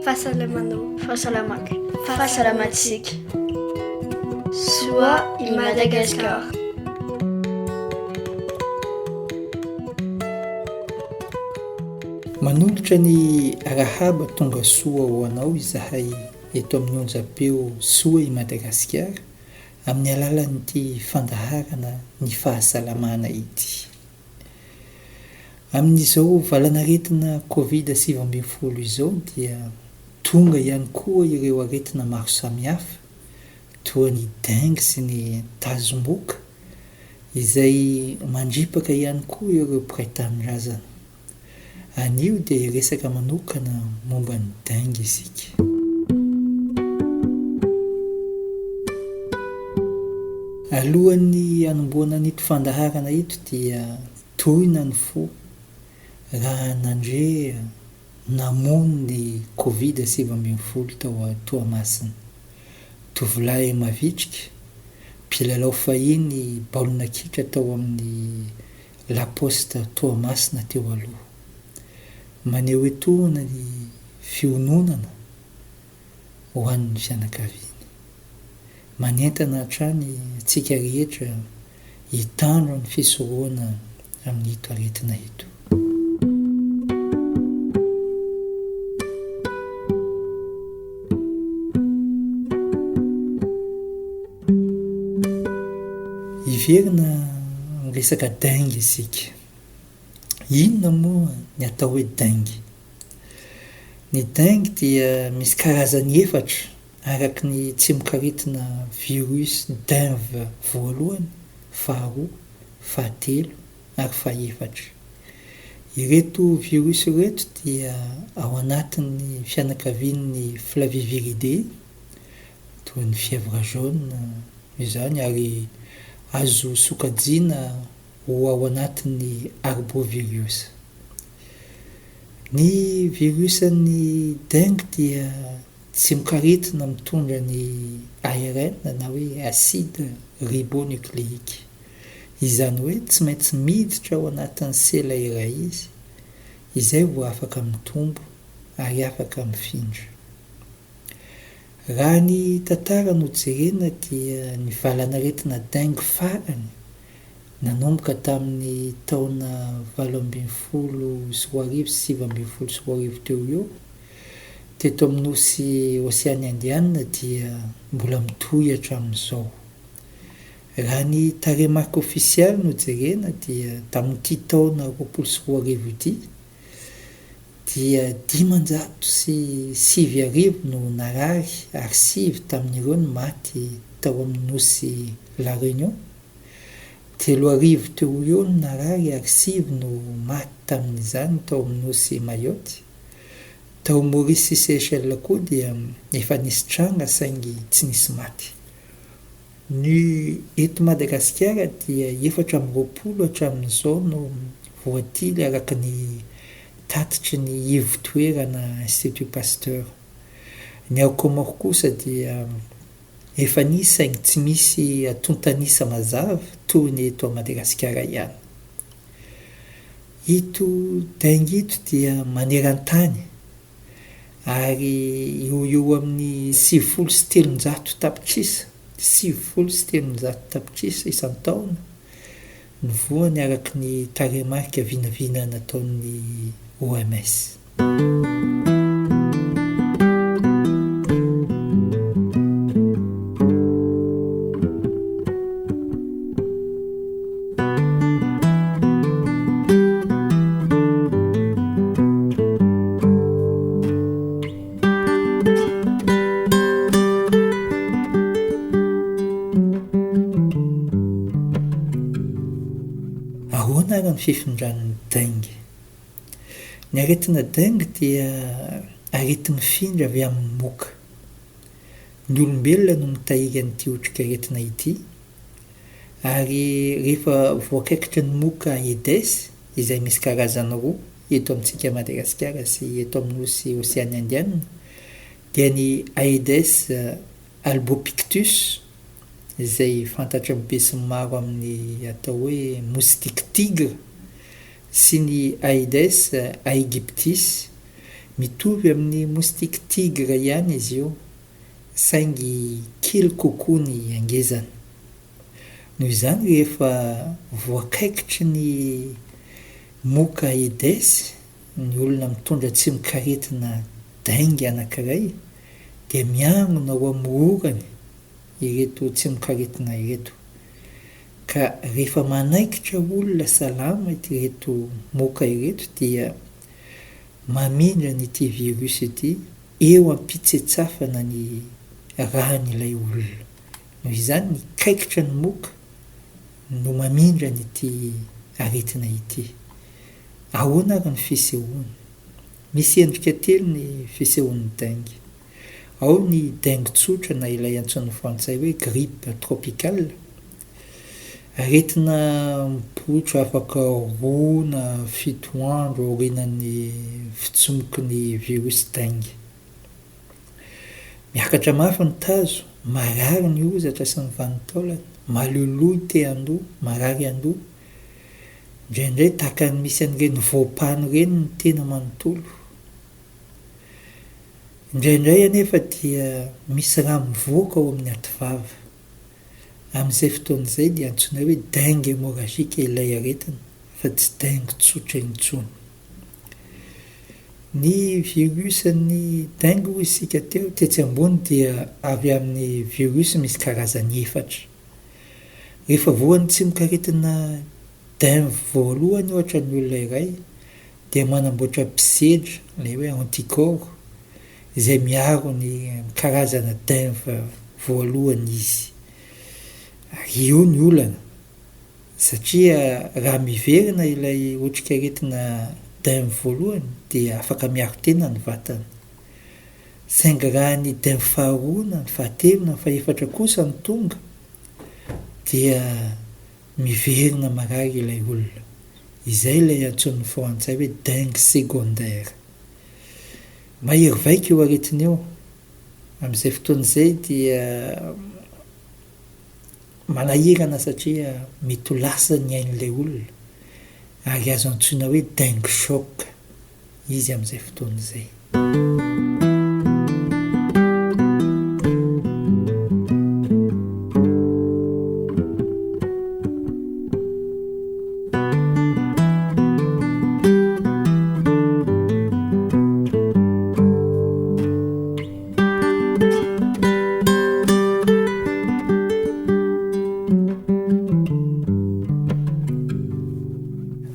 Fahasalamanao. Fahasalamako. Fahasalamantsika. Soa i Madagascar. Manolotra ny arahaba tonga soa ho anao izahay eto amin'ny onjam-peo Soa i Madagasikara amin'ny alalan'ity fandaharana ny fahasalamana ity. Amin'izao valanaretina Covid sivy ambin'ny folo izao dia tonga ihany koa ireo aretina maro samihafa toa ny dengue sy ny tazomboka izay mandripaka ihany koa ireo mpiray tanindrazana. Anio dia hiresaka manokana momba ny dengue isika. Alohan'ny hanombohana an'ito fandaharana ito dia tohina ny fo raha nandre namono ny covid sivy ambin'ny folo tao Toamasina. Tovolahy mavitrika, mpilalao fahiny baolina kitra tao amin'ny La Poste Toamasina teo aloha. Maneho etoana ny fiononana ho an'ny fianakaviany. Manentana hatrany antsika rehetra hitandro ny fisorohana amin'ito aretina ito. Hiverina amin'ny resaka dengue isika. Inona moa ny atao hoe dengue? Ny dengue dia misy karazany efatra araka ny tsimok'aretina virus denv voalohany, faharoa, fahatelo ary fahefatra. Ireto virus ireto dia ao anatin'ny fianakavian'ny Flaviviridae. toa ny fièvre jaune izany ary azo sokajiana ho ao anatin'ny arbovirus. Ny virus an'ny dengue dia tsy mikaretina mitondra ny ARN na hoe acide ribonucléique, izany hoe tsy maintsy miditra ao anatin'ny sela iray izy izay vao afaka mitombo ary afaka mifindra. Raha ny tantara no jerena dia ny valan'aretina dengue farany nanomboka tamin'ny taona valo ambin'ny folo sy roa arivo sy sivy ambin'ny folo sy roa arivo teo ho eo teto amin'ny nosy Oseany Indiana dia mbola mitohy hatramin'izao. Raha ny tarehimarika ofisialy no jerena dia tamin'ity taona roapolo sy roa arivo ity dia dimanjato sy sivy arivo no narary ary sivy tamin'ireo no maty tao amin'ny nosy La Réunion. Telo arivo teo ho eo no narary ary sivy no maty tamin'izany tao amin'ny nosy Mayotte. Tao Maurice sy Seychelles koa dia efa nisy tranga saingy tsy nisy maty. Ny eto Madagasikara dia efatra amby roapolo hatramin'izao no voatily araka ny tatitry ny ivo-toerana Institut Pasteur. Ny ao Comores kosa dia efa nisy saingy tsy misy atontan'isa mazava toy ny eto Madagasikara ihany. Ito dengue ito dia maneran-tany ary eo ho eo amin'ny sivifolo sy telonjato tapitrisa, sivifolo sy telonjato tapitrisa isan-taona ny voany araka ny tarehimarika vinavina nataon'ny OMS. Ahoana ary ny fifindran'ny dengue? Ny aretina dengue dia areti-mifindra avy amin'ny moka. Ny olombelona no mitahiry an'ity otrik'aretina ity. Ary rehefa voakaikitry ny moka Aedes, izay misy karazany roa eto amintsika Madagasikara sy eto amin'ny nosy Oseany Indianina, dia ny Aedes albopictus, izay fantatry ny besinimaro amin'ny atao hoe moustique tigre, sy ny Aedes aegyptis. Mitovy amin'ny moustique tigre ihany izy io. saingy kely kokoa ny hangezany. Noho izany rehefa voakaikitry ny moka Aedes ny olona mitondra tsimokaretina dengue anankiray dia miangona ho amororany ireto tsimokaretina ireto ka rehefa manaikitra olona salama ireto moka ireto dia Mamindra an' ity virus ity eo am-pitsetsafana ny ràn' ilay olona. Noho izany ny kaikitra ny moka no mamindra an' ity aretina ity. Ahoana ary ny fisehoany? Misy endrika telo ny fisehoan' ny dengue. Ao ny dengue tsotra na ilay antsoin'ny frantsay hoe grippe tropicale, Aretina mipoitra afaka roa na fito andro aorianan'ny fitsimoky ny virosy dengue. Miakatra mafy ny tazo, marary ny hozatra sy ny vanin-taolana, maloloy te-handoa, marary an-doha. Indraindray tahaka ny misy an'ireny voampano ireny ny tena manontolo. Indraindray anefa dia misy rà mivoaka ao amin'ny ativava. Amin'izay fotoana izay dia antsoinay hoe dengue hémorragique ilay aretina fa tsy dengue tsotra intsony. Ny virus an'ny dengue hoy isika teo tetsy ambony dia avy amin'ny virus misy karazany efatra. Rehefa voan'ny tsimokaretina dengue voalohany ohatra ny olona iray dia manamboatra mpisedra, ilay hoe anticorps, izay miaro ny karazana denf voalohany izy. Ary io ny olana, satria raha miverina ilay otrikaretina denf voalohany dia afaka miaro tena ny vatana. Saingy raha ny denf faharoa na ny fahatelo na ny fahefatra kosa no tonga dia miverina marary ilay olona. Izay ilay antsoin'ny frantsay hoe dengue secondaire. Mahery vaika io aretina io. Amin'izay fotoana izay dia manahirana satria mety ho lasa ny ain'ilay olona ary azo antsoina hoe dengue choc izy amin'izay fotoana izay.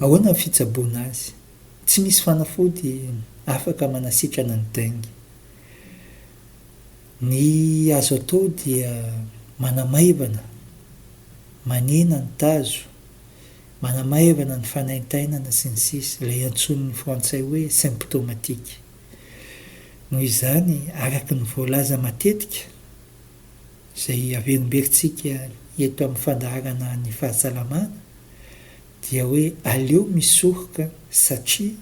Ahoana ny fitsaboana azy? Tsy misy fanafody afaka manasitrana ny dengue. Ny azo atao dia manamaivana, manena ny tazo, manamaivana ny fanaintainana sy ny sisa, ilay antsoin'ny frantsay hoe symptomatique. Noho izany, araka ny voalaza matetika, izay averimberitsika eto amin'ny fandaharana ny fahasalamana, dia hoe aleo misoroka satria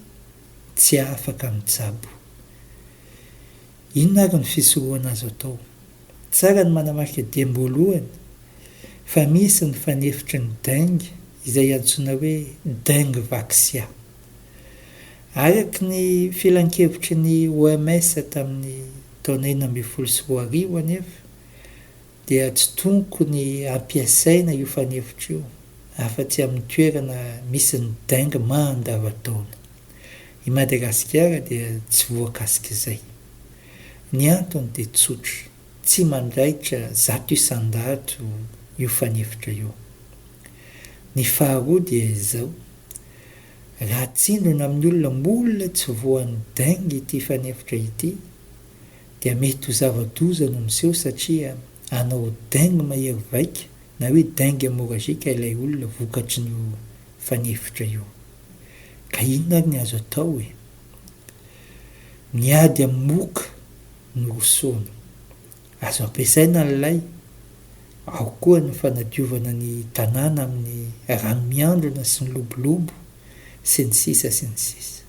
tsy afaka mijabo. Inona ary ny fisorohana azo atao? Tsara ny manamarika diam-boalohany fa misy ny fanefitry ny dengue izay antsoina hoe denguevaxia. Araka ny filankevitry ny OMS tamin'ny taona enina ambin'ny folo sy roa arivo anefa, dia tsy tonko ny hampiasaina io fanefitra io afa-tsy amin'ny toerana misy ny dengue mandava-taona. I Madagasikara dia tsy voakasik'izay. Ny antony dia tsotra, tsy mandaitra zato isan-dato io fanefitra io. Ny faharoa dia izao, raha atsindrona amin'ny olona mbola tsy voan'ny dengue ity fanefitra ity, dia mety ho zava-doza no miseho satria hanao dengue mahery vaika na hoe dengue hemorragique ilay olona vokatry ny io fanefitra io. Ka inona ary ny azo atao e? Ny ady amin'ny moka no rosoana. Azo ampiasaina ny lay, ao koa ny fanadiovana ny tanàna amin'ny rano miandrona sy ny lobolobo, sy ny sisa sy ny sisa.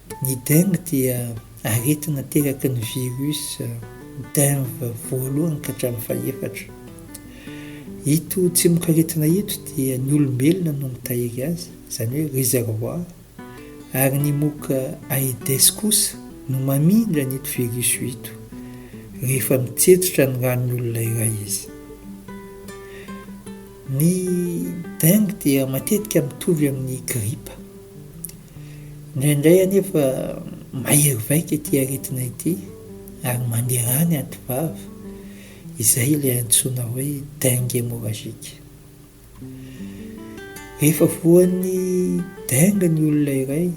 Ny dengue dia aretina ateraky ny virus denvy voalohany ka hatramin'ny fahefatra. Ito tsimokaretina ito dia ny olombelona no mitahiry azy, izany hoe réservoir, ary ny moka Aedes kosa no mamindra an'ito virus ito rehefa mitsetsitra ny ran'ny olona iray izy. Ny dengue dia matetika mitovy amin'ny gripa. Indraindray anefa mahery vaika ity aretina ity ary mandeha any antivava, izay ilay antsoina hoe dengue hémorragique. Rehefa voan'ny dengue ny olona iray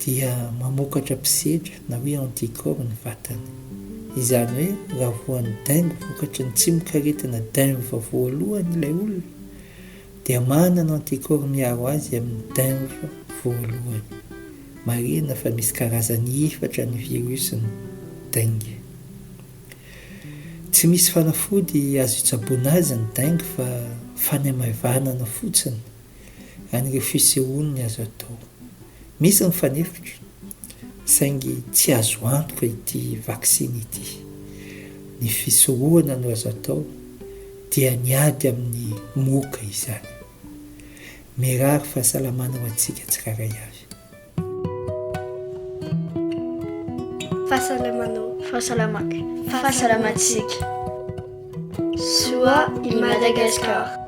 dia mamokatra mpisedra na hoe anticorps ny vatany. Izany hoe raha voan'ny dengue vokatry ny tsimokaretina dengue voalohany ilay olona, dia manana anticorps miaro azy amin'ny denf voalohany. Marihina fa misy karazany efatra ny virus-n'ny dengue. Tsy misy fanafody azo itsaboana azy ny dengue fa fanamaivanana fotsiny an'ireo fisehoan'ny azo atao. Misy ny fanefitra saingy tsy azo antoka ity vaksiny ity. Ny fisorohana no azo atao. dia ny ady amin'ny moka izany. Mirary fahasalamana ho antsika tsirairay avy. Fahasalamanao. Fahasalamako. Fahasalamantsika. Soa i Madagascar.